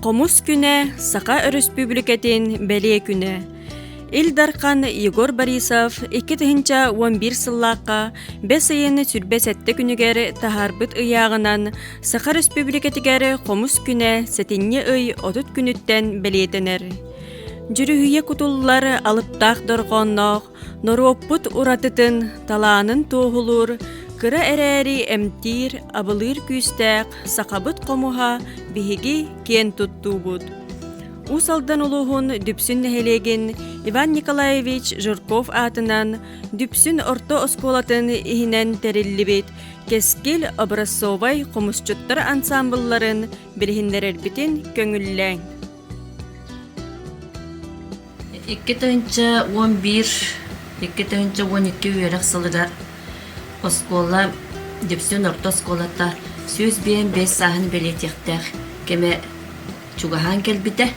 Хомус күнэ Саха Өрөспүүбүлүкэтин бэлиэ күнэ. Ил Дархан Егор Борисов 2011 сыллаахха бэс ыйын сүрбэ сэттэ күнүгэр таһаарбыт ыйааҕынан Саха Өрөспүүбүлүкэтигэр хомус күнэ сэтинньи ый отут күнүттэн бэлиэтэнэр. Дьүрүһүйэ кутуллар алыптаах дорҕоонноох, норуоппут уратытын, талаанын туоһулуур, кыра эрээри эмтиир, абылыыр күүстээх сахабыт хомуһа биһиги киэн туттуубут. Уус Алдан улууһун Дүпсүн нэһилиэгин Иван Николаевич Жирков аатынан Дүпсүн орто оскуолатын иһинэн тэриллибит Кэскил образцовай хомусчуттар ансаамбылларын билиһиннэрэрбитин көҥүллээҥ. Икки тыһыынча уон биир, икки тыһыынча уон икки үөрэх сылыгар оскуола, Дьэпсиэн орто оскуолата сүүс биэс биэс сааһын бэлиэтиэхтээх кэмэ чугаһаан кэлбитэ.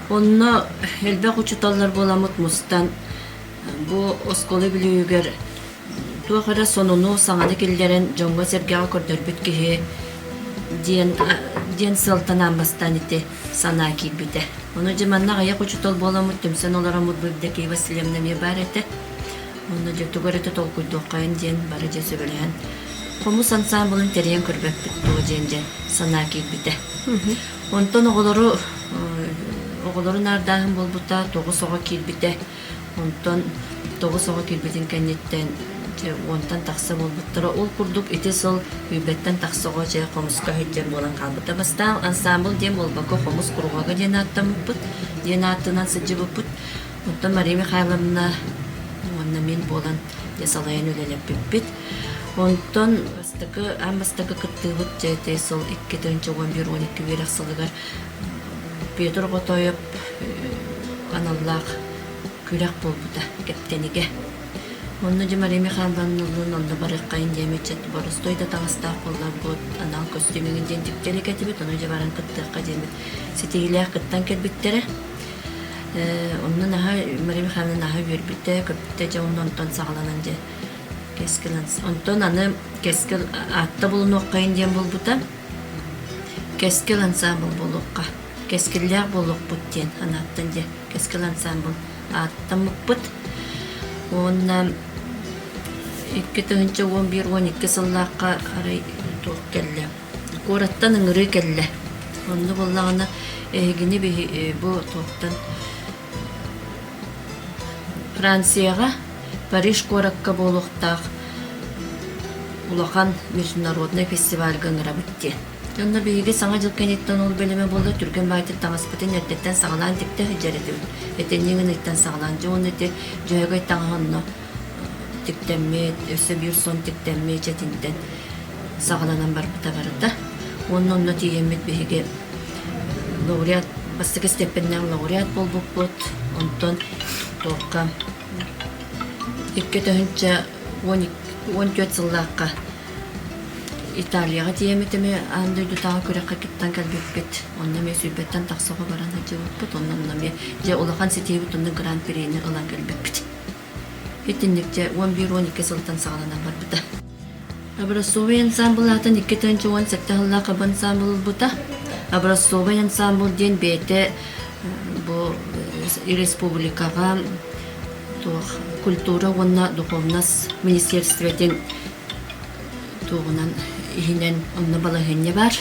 Онно элбэх учууталлар буоламмыт мустан бу оскуола бүлүүгэр туох эрэ сонуну, саҥаны киллэрэн дьоҥҥо-сэргэҕэ көрдөрбүт киһи диэн диэн сыалтанаан бастаан ити санаа киирбитэ. Ону дьэ манна аҕыйах учуутал буоламмыт түмсэн олороммутбут Дакия Васильевна эмиэ баар этэ. Уонна дьэ тугу эрэ толкуйдуоххайын диэн бары дьэ сөбүлэһэн хомус ансаамбылын тэрийэн көрбөппүт дуо диэн дьэ санаа киирбитэ. Онтон оҕолору оҕолору наардааһын буолбута, тоҕус оҕо киирбитэ. Онтон тоҕус оҕо киирбитин кэнниттэн дьэ уонтан тахса буолбуттара. Ол курдук ити сыл күүрбэттэн тахса оҕо дьэ хомуска сылдьар буолан хаалбыта. Бастаан ансаамбыл диэн буолбакка хомус куруһуога диэн ааттаммыппыт, диэн ааттынан сылдьыбыппыт. Оттон Мария Михайловна уонна мин буолан дьэ салайан үлэлэппиппит. Онтон бастакы, аан бастакы кыттыыбыт дьэ эти сыл икки тыһыынча уон биир уон икки үөрэх сылыгар Петр Готоев аналлаах күрэх буолбута Кэптэнигэ. Онно Мария Михайловна Ыллын онно барыаххайын диэм ыччат боростуой да таҥастаах буолар буот анал костюмигын диэн дьиктирик этибит, ону дьэ баран кыттыахха диэммит ситиһиилээх кыттан кэлбиттэрэ. Онно наһаа Мария Михайловна наһаа үөрбүтэ, көппүтэ дьэ онно онтон саҕаланан дьэ кэскил онтон аны кэскил аатта булунуоххайын диэн булбута. Кэскил ансаамбыл буолуохха, кэскиллээх буолуохпут диэн санааттан дьэ Кэскил ансаамбыл ааттаммыппыт. Уонна икки тыһыынча уон биир уон икки сыллаахха арай туох кэллэ? Куораттан ыҥырыы кэллэ. Онно буоллаҕына эһигини биһи бу туохтан Францияҕа Париж куоракка буолуохтаах улахан международнай фестивальга ыҥырабыт диэн. Онно биһиги Саҥа дьыл кэнниттэн ол бэлэмэ буолла түргэн баайтык таҥаспытын эрдэттэн саҕалаан типтэ сылдьар этибит. Этэҥҥэ гыныттан саҕалаан дьэ уонна ити дьөһөгөй таҥаһы онно тиктэммит, өссө биир сонн тиктэммит, чэтинтэн саҕаланан барбыта барыта. Уонна онно тиийэммит биһиги лауреат бастакы степеннээн лауреат буолбуппут. Онтон туохха икки өтөһүнчэ он түөрт сыллаахха Италияҕа тиийэммит эми аан дойдутааҕы күрэххэ кыттан кэлбиппит. Онно эмиэ сүүрбэттэн тахсаҕа баран сылдьыбыппыт. Онно эмиэ дьэ улахан ситиһиибит онно гран-прини ылан кэлбиппит. Итинникчэ уон биир уон икки сылтан саҕаланан барбыта. Образцовый ансаамбыл аатын икки тыһыынча уон сэттэ сыллаах ХАБ ансаамбыл ылбыта. Образцовый ансаамбыл диэн бэйэтэ бу республикаҕа туох культура уонна духовность министерствотын туоҕунан иһинэн онно балаһыанньа баар.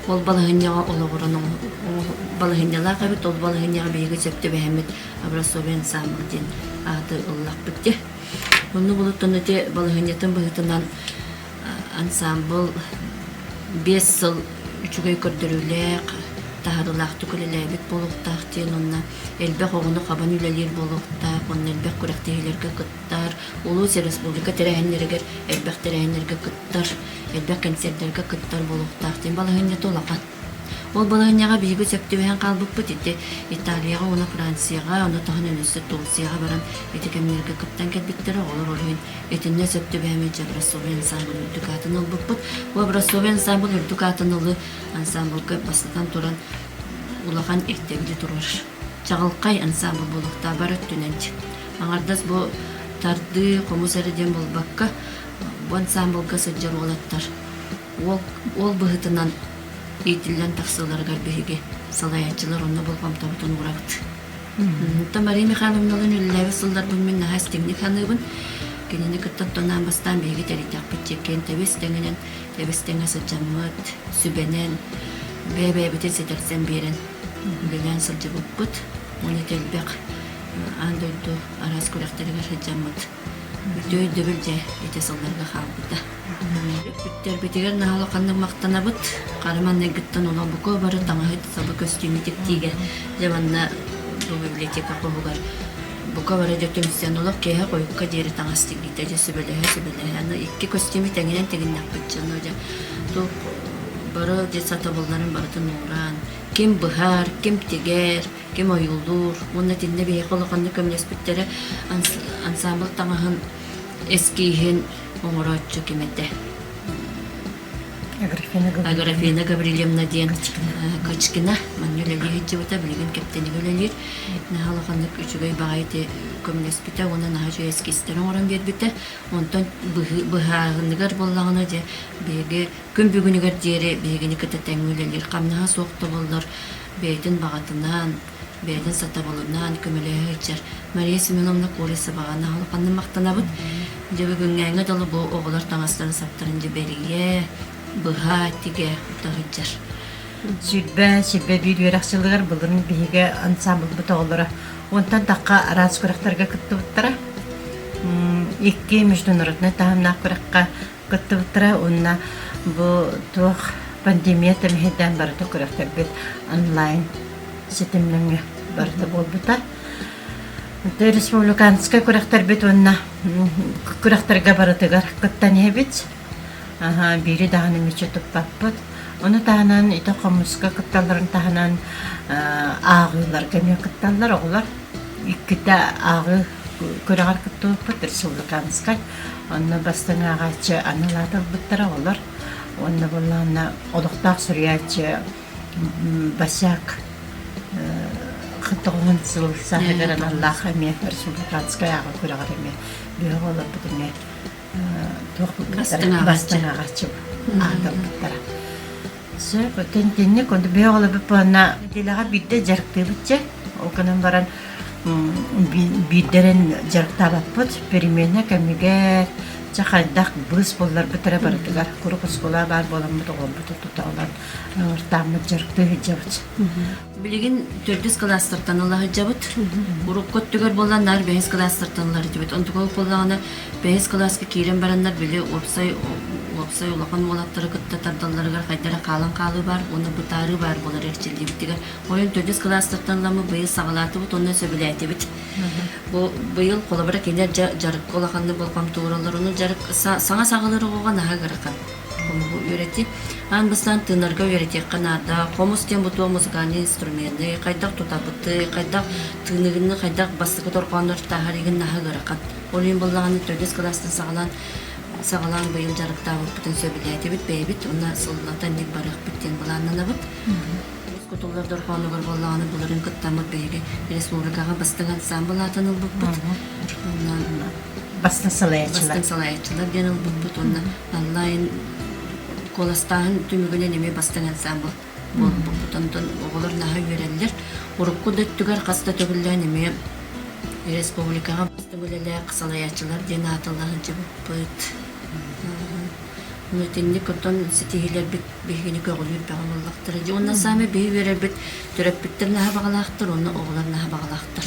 Ол балаһынньаҕа олоҕуран балаһынньалаах эбит, ол балаһынньаҕа биһиги сөп түбэһэммит образцовый ансамбль диэн ааты ыллахпыт дии. Онно булуттан ити балаһынньатын быһыытынан ансамбл биэс сыл үчүгэй көрдөрүүлээх, таһарылаахтык үлэлээбит буолуохтаах диэн уонна элбэх оҕону хабан үлэлиир буолуохтаах, онно элбэх күрэхтэһиилэргэ кыттар, улуус, республика тэрээһиннэригэр, элбэх тэрээһиннэргэ кыттар Элбэх кэнсиэрдэргэ кыттар буолуохтаах диэн балаһыанньата улахан. Ол балаһыанньаҕа биһиги сөп түбэһэн хаалбыппыт. Ити Италияҕа уонна Францияҕа, онно таһынан өссө Турцияҕа баран ити кэмнэргэ кыттан кэлбиттэрэ. Оҕолор ол иһин итиннэ сөп түбэһэн сылдьар Образцовый ансаамбыл үрдүк аатын ылбыппыт. Бу Образцовый ансаамбыл үрдүк аатын ылыы ансаамбылга бастатан туран улахан ирдэбили туруор. Чаҕылхай ансаамбыл буолуохтаах бары өттүнэн. Аҥардас бу тардыы, хомус эрэ диэн буолбакка, бу ансаамбылга сылдьар уолаттар уол, уол быһыытынан иитиллэн тахсыыларыгар биһиги салайааччылар онно болҕомтобутун уурабыт. Онтон Мария Михайловналыын үлэлээбит сылларбын мин наһаа истиҥник саныыбын. Кинини кытта тонаан бастаан биһиги тэрийтэхпит чеккээн тэбис тэҥинэн тэбис тэҥэ сыдьаммыт, сүбэнэн, бэйэ-бэйэбитин ситэрсэн биэрэн үлэлээн сылдьыбыппыт. Уонна тэлбэх аан дойду араас күрэхтэригэр сыдьаммыт Бүттэ өйдөбүл дьэ этэ сылларга хаалбыта. Бүттэрбитигэр наһала ханнык махтанабыт. Хара манныгыттан олобуко бары таҥаһыт саба көстүүмү типтиигэ дьэ манна библиотека хоһугар бука бара дьэ түмсэн олох киэһэ хойукка диэри таҥас тигитэ дьэ сүбэлэһэ-сүбэлэһэ ну икки көстүүмү тэҥинэн тигиннэхпит дьоно дьэ ту бары дьэ сатабылларын барытын уураан ким быһаар ким тигэр ким ойуулуур уонна итиннэ биһиэхэ улаханнык көмөлөспүттэрэ ансаамбыл таҥаһын эскииһин оҥорооччу ким этэ Аграфина Гаврильевна диэн Качкина манна үлэлии сылдьыбыта билигин кэптэнигэ үлэлиир наһаа улаханнык үчүгэй баҕайы көмөлөспүтэ уонна наһаа үчүгэй эскиистэр оҥорон биэрбитэ онтон быһааһыныгар буоллаҕына дьэ биһиги Күн бүгүнүгэр диэри биһигини кытта тэҥҥэ үлэлиир хамнаһа суох тобуллар бэйэтин баҕатынан, бэйэтин сатабылынан көмөлөһө сылдьар Мария Семеновна Курисоваҕа наһылыканныы махтанабыт. Дьэ бүгүҥҥээҥҥэ дылы бу оҕолор таҥастарын-саптарын дьэ бэрийэ, быһа, тигэ ута сылдьар. Сүүрбэ, сүүрбэ биир үөрэх сылыгар былырын биһиги ансаамбылбыт оҕолоро уонтан тахха араас күрэхтэргэ кыттыбыттара. Икки международнай таһымнаах күрэххэ кыттыбыттара уонна бу туох пандемия тэмэһийдээн барыта күрэхтэрбит онлайн ситимнэҥҥэ барыта буолбута. Республиканскай күрэхтэрбит уонна күрэхтэргэ барытыгар кыттан иһэбит. Биири даҕаны мүччү туппаппыт. Ону таһынан ити хомуска кытталларын таһынан ааҕыыларга эмиэ кытталлар оҕолор. Иккитэ ааҕыы күрэҕэр кыттыбыппыт республиканскай. Онно бастыҥ ааҕааччы аны улаатарбыттара олор уонна буоллаҕына олохтоох суруйааччы Басяк тоҕуһун сыл сааһыгар аналлаах эмиэ Сургутанскай ааҕа күрэҕэр эмиэ бөҕө олорбут эмиэ туох бастыҥ ааҕааччы аатырбыттара. Сөп, кэнник бөөх олорбут буонна неделяға биирдэ дьарыктыыбыт дьэ, ол гынан баран биирдэрин дьарыктаабаппыт, переменна кэмигэр ча хайдах быыс булларбыт эрэ барытыгар куруук оскуола баар буоламмыт оҕолорбуту тута ылан ыртааммыт дьарыктыы сылдьабыт Билигин төрдүс кылаастартан ыла сылдьабыт. Урукку өттүгэр буоллар наар бэһис кылаастартан ыла сылдьабыт. Онтукалық буоллаҕына бэһис кылааска киирэн бараннар били уопсай уопсай улахан уолаттары кытта тардалларыгар хайдара хаалан хаалыы баар уонна бытаарыы баар болор эрчиллибитигэр ойон төрдүс кылаастартан ылама быйыл саҕалаатыбыт уонна сөбүлээтибит. Бу быйыл холобура кинилэр жарыкка улаханнык болҕомтолороллор. Ону жарык саҥа саҕалар оҕоҕа наһаа ыарахан. хомугу үөрэтии. Аан бастаан тыынарга үөрэтиэххэ наада. Хомус диэн бу туох музыкальный инструменты, хайдах тутабыты, хайдах тыыныгынны, хайдах бастакы торҕооннор таһарыгын наһыгырахат. Ол иһин буллаҕына төрдүс класстан саҕалаан саҕалаан быйыл дьарыктаабыппытын сөбүлээтибит бэйэбит уонна сыллата ник барыахпыт диэн былааннанабыт. Үгүс кутуллар дорҕоонугар буоллаҕына былырыын куттаммыт биһиги республикаҕа бастыҥ ансаамбыл аатын ылбыппыт. Уонна Бастыҥ салайааччылар. Бастыҥ салайааччылар диэн ылбыппыт уонна онлайн куоластааһын түмүгүнэн эмиэ бастыҥ ансаамбыл буолбуппут. Онтон оҕолор наһаа үөрэллэр. Урукку да өттүгэр хас да төгүллээн эмиэ республикаҕа бастыҥ үлэлээх салайааччылар диэн аатылла сылдьыбыппыт. итинник оттон ситиһиилэрбит биһигини көҕүлүүр бөҕө буоллахтара дии уонна саамай биһи үөрэрбит төрөппүттэр наһаа баҕалаахтар уонна оҕолор наһаа баҕалаахтар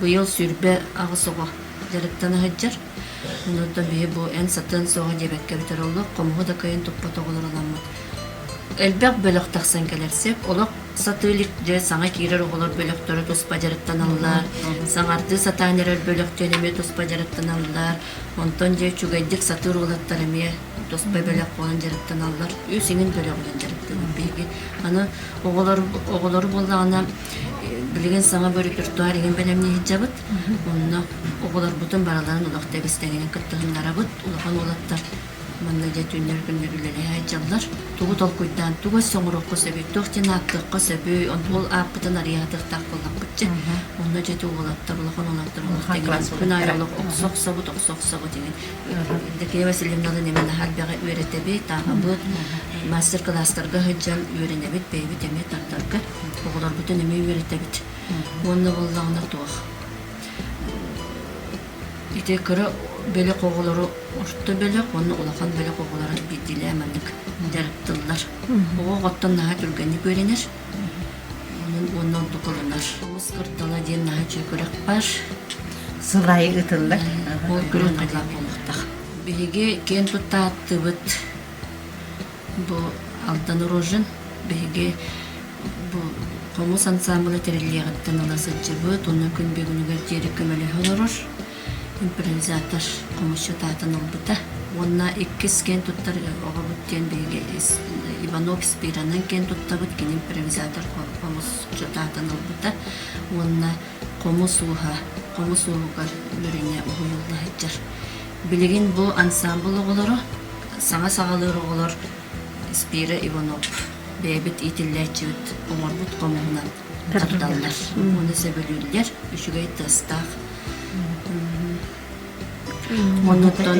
быйыл сүүрбэ аҕыс оҕо дьарыктан сылдьар онтон биһи бу эн сатыан суоҕа диэбэккэ бүтэр олох хомуһу да кыайан туппат оҕолор аламмыт элбэх бөлөх тахсан кэлэрсиэк олох сатыы илик дьэ саҥа киирэр оҕолор бөлөхтөрө туспа дьарыктаналлар саҥардыы сатаан эрэр бөлөхтөн эмиэ туспа дьарыктаналлар Онтон дьэ үчүгэйдик сатыыр уолаттар эмиэ туспа бэлэх буолан дьарыктаналлар. Үс иҥин бөлөҕүнэн дьарыктыыбыт биһиги. Аны оҕолор оҕолору буоллаҕына билигин саҥа бөрүтүртуар иҥин бэлэмнии сылдьабыт. Онно оҕолорбутун барыларын олох тэбис тэҥинэн кыттыһыннарабыт. Улахан уолаттар Манна дьэ түүннэр күннэр үлэлэһэ сылдьаллар. Тугу толкуйдаан, тугу өссө оҥоруохха сөбүй, туох диэн ааттыахха сөбүй, ол ааппытын арыйаатыахтаах буоллахпытча, онно дьэ уолаттар улахан уолаттар олохто күн аайы олох охсо охсобут охсо охсобут игин Евдокия Васильевналыын эмэ наһаа элбэҕи үөрэтэбит, ааһабыт, мастер-кылаастарга сылдьан үөрэнэбит, бэйэбит эмиэ тардарга оҕолорбутун эмиэ үөрэтэбит. Уонна буоллаҕына туох Ити кыра бөлөх оҕолору орто бөлөх уонна улахан бөлөх оҕолоро биирдиилээн маннык дьарыктыллар. Оҕо оҕоттон наһаа түргэнник үөрэнэр. Онон уонна ордук ылынар. Оҕус кырдала диэн наһаа үчүгэй күрэх бар. Сыл аайы ыытыллар. Ол күрэх наһаа буолуохтаах. Биһиги киэн тутта ааттыыбыт Бу Алдан Рожин биһиги бу хомус ансаамбыла тэриллиэҕиттэн ыла сылдьыбыт уонна күн бүгүнүгэр диэри көмөлөһө олорор. Импровизатор хомусчут аатын ылбыта уонна иккис киэн туттар оҕобут диэн биһиги Иванов Спиранан киэн туттабыт кини импровизатор хомусчут аатын ылбыта уонна хомус ууһа хомус ууһугар үөрэнэ уһуйулла сылдьар Билигин бу ансаамбыл оҕолоро, саҥа саҕалыыр оҕолор Спира Иванов бэйэбит иитиллээччибит оҥорбут хомуһунан дьарыкталлар уонна сөбүлүүллэр, үчүгэй тастаах. Оннуттан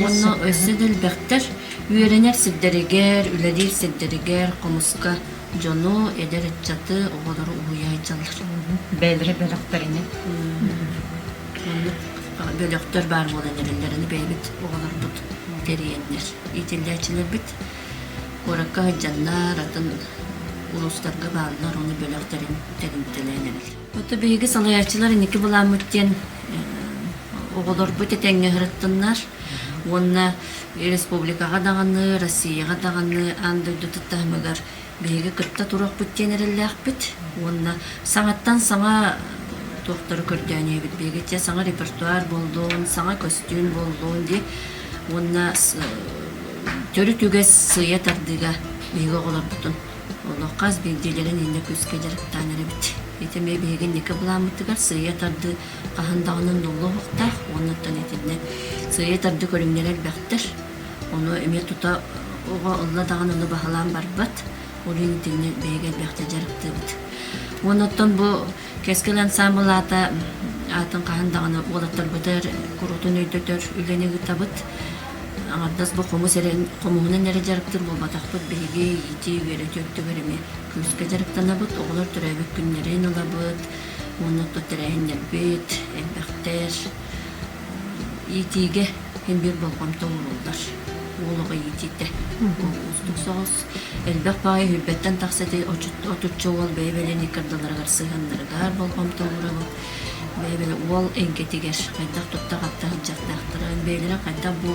уонна өссө да элбэхтэр үөрэнэр сирдэригэр, үлэлиир сирдэригэр хомуска дьону, эдэр ыччаты, оҕолору уһуйааччылар. Бэлри бөлөхтөрүнэ. Маннык бөлөхтөр баар буолан эрэллэрин бэйэбит оҕолорбут тэрийэннэр, иитиллээччилэрбит куоракка сылдьаннар, атын улуустарга бааллар, ону бөлөхтөрүн тэрилтэлээн эбит. Ото биһиги салайааччылар инники былааммыт диэн оҕолорбут этэҥҥэ сырыттыннар уонна республикаҕа даҕаны, Россияҕа даҕаны аан дойду таһымыгар биһиги кытта туруохпут диэн эрэллээхпит уонна саҥаттан саҥа туохтары көрдөөн ийэбит биһиги те саҥа репертуар буоллун саҥа көстүүм буоллун дии уонна төрүт үгэс сыыйа тардыыга биһиги оҕолорбутун олох хас биирдиилэрин иннэ күүскэ дьарыктаан эрэбит ити эмиэ биһиги инники былааммытыгар сыыйа тардыы хаһан даҕаны ноллоһуохтаах уонна оттон итиннэ сыыйа тардыы көрүҥнэрэ элбэхтэр Ону эмиэ тута оҕо ылла даҕаны ыла баһылаан барбат, ол иһин итинни бэйэгэ элбэхтик дьарыктыыбыт. Уонна оттон бу Кэскил ансаамбыл аата аатын хаһан даҕаны уолаттарбытыгар куруутун өйдөтөр үлэни ыытабыт. Аҥардас бу хомус эрэ хомуһунан эрэ дьарыктыыр буолбатахпыт, биһиги иитии, үөрэтии өттүгэр эмиэ күүскэ дьарыктанабыт. Оҕолор төрөөбүт күннэрин ылабыт, уонна оттон тэрээһиннэрбит элбэхтэр. иитиигэ син биир болҕомто ууруллар уол оҕо иитиитэ уустук соҕус элбэх баҕайы сүүрбэттэн тахса ити отучча уол бэйэ-бэлиэни кырдаларыгар сыһыаннарыгар болҕомто уурабыт бэйэ-бэлэ уол эйгэтигэр хайдах туттах-аптах дьахтаахтарын бэйэлэрэ хайдах бу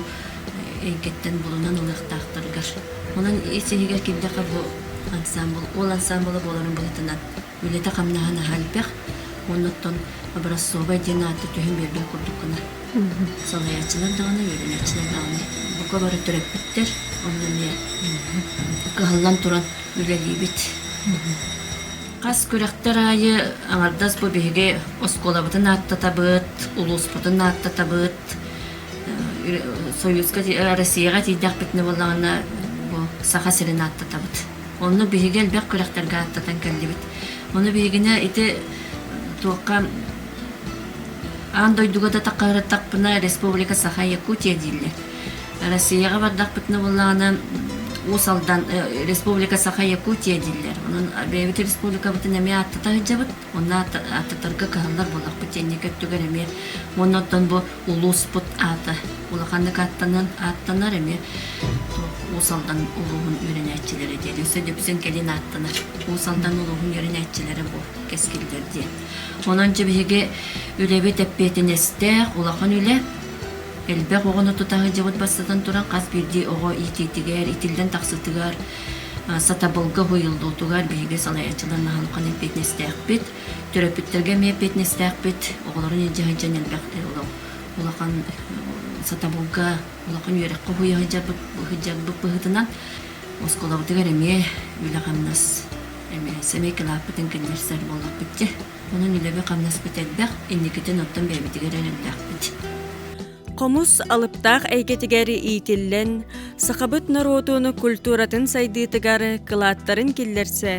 эйгэттэн булунан ылыахтаахтарыгар онон ис иһигэр киирдэххэ бу ансаамбыл уол ансаамбыла буоларын быһытынан үлэтэ-хамнаһын аһа элбэх, оннуттан образцовай диэн ааты түһэн биэрбит курдук гына. Салайааччылар даҕаны, үөрэнээччилэр даҕаны бука бары төрөппүттэр, онно эмиэ кыһаллан туран үлэлиибит. Хас күрэхтэр аайы аҥардас бу биһиги оскуолабытын ааттатабыт, улууспутун ааттатабыт, Союзка, Россияҕа тиийдэхпитинэ буоллаҕына бу Саха сирин ааттатабыт. Онно биһиги элбэх күрэхтэргэ ааттатан кэллибит. Ону биһигинэ ити туохха аан дойдуга да таххараттахпына Республика Саха Якутия дииллэр. Россияҕа бардахпытына буоллаҕына Уус Алдан э, Республика Саха Якутия дииллэр. Онон бэйэбит республикабытын эмиэ ааттата сылдьабыт. Уонна ааттатарга кыһаллар буолахпыт сиэнньэкэ өттүгэр эмиэ уонна оттон бу улууспут аата улаханнык ааттаныан ааттанар эмиэ Уус Алдан улууһун үөрэнээччилэрэ диэн өссө Дүпсүн кэлин ааттанар Уус Алдан улууһун үөрэнээччилэрэ бу кэскиллэр диэн. Онон дьэ биһиги үлэбит эппиэтинэстээх улахан үлэ элбэх оҕону тута сылдьыбыт бастатан туран хас биирдии оҕо иитиитигэр итиллэн тахсытыгар Сатабылга уһуйуллуутугар биһиги салайааччыларнаһан улахан эппиэтинэстээхпит. Төрөппүттэргэ эмиэ эппиэтинэстээхпит. Оҕолорун илдьэ сылдьан элбэхтэр олох улахан сатабылга, улахан үөрэххэ сылдьарбыт быһыытынан оскуолабытыгар эмиэ үлэ-хамнас эмиэ сэмейкалааппытын кэннэрсэр буоллахпыт дьэ. Онон үлэбэ-хамнаспыт элбэх, инникитин оттон бэйэбитигэр эрэллээхпит. Хомус алыптаах эйгэтигэр иитиллэн, сахабыт норуотун культуратын сайдыытыгар кылааттарын киллэрсэ,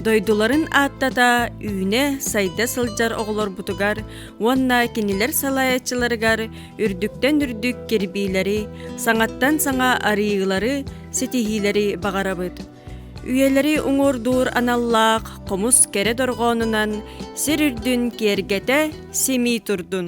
дойдуларын ааттата, үүнэ, сайда сылдьар оҕолорбутугар уонна кинилэр салайааччыларыгар үрдүктэн үрдүк кирбиилэри, саҥаттан саҥа арыйыылары, ситиһиилэри баҕарабыт. Үйэлэри уҥуордуур аналлаах хомус кэрэ дорҕоонунан сир үрдүн киэргэтэ, симии турдун!